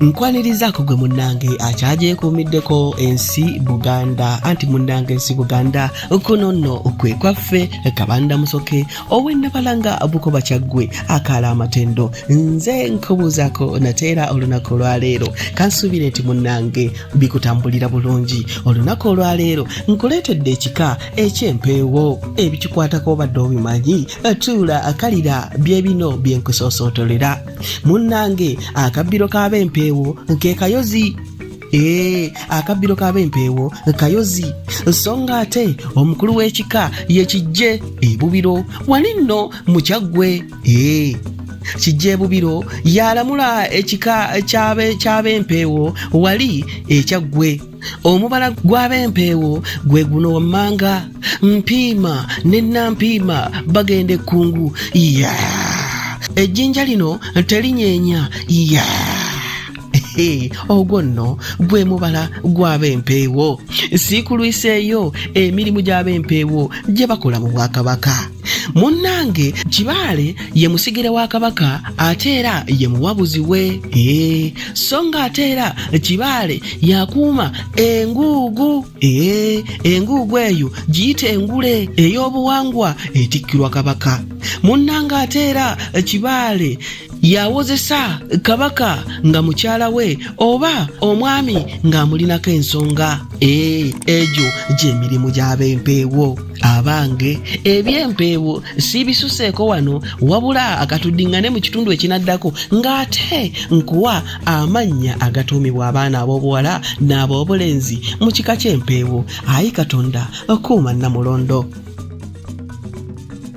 nkwanirizaako gwe munnange akyagyekuumiddeko ensi buganda anti munnange ensi buganda kuno nno kwe kwaffe kabanda musoke ow'ennabalanga bukoba kyaggwe akaala amatendo nze nkubuuzaako nateera olunaku olwaleero kansuubire nti munnange bikutambulira bulungi olunaku olwaleero nkuleetedde ekika eky'empeewo ebikikwatako obadde obimanyi tuula akalira bye bino bye nkusoosootolera munnange akabbiro k'abempeewo nke kayozi ee eh, akabbiro k'abempeewo kayozi nsonga ate omukulu w'ekika ye kijje ebubiro wali nno mukyaggwe ee eh, kijja ebubiro yalamula ekika ky'abempeewo wali ekyaggwe omubala gw'abempeewo gwe guno wammanga mpiima ne nampiima bagenda ekkungu ya ejjinja lino telinyeenya ya ogwo nno gwe mubala gw'abempeewo siikulwiseeyo emirimu gy'abempeewo gye bakola mu bwakabaka munnange kibaale ye musigire wa kabaka ate era ye muwabuzi we ee so nga ate era kibaale yakuuma enguugu ee enguugu eyo giyita engule ey'obuwangwa etikkirwa kabaka munnange ate era kibaale yawozesa kabaka nga mukyala we oba omwami ng'amulinako ensonga ee egyo gy'emirimu gy'abempeewo abange ebyempeewo siibisuseeko wano wabula akatuddiŋŋane mu kitundu ekinaddako ng'ate nkuwa amannya agatuumibwa abaana ab'obuwala n'ab'obulenzi mu kika ky'empeewo ayi katonda kuuma namulondo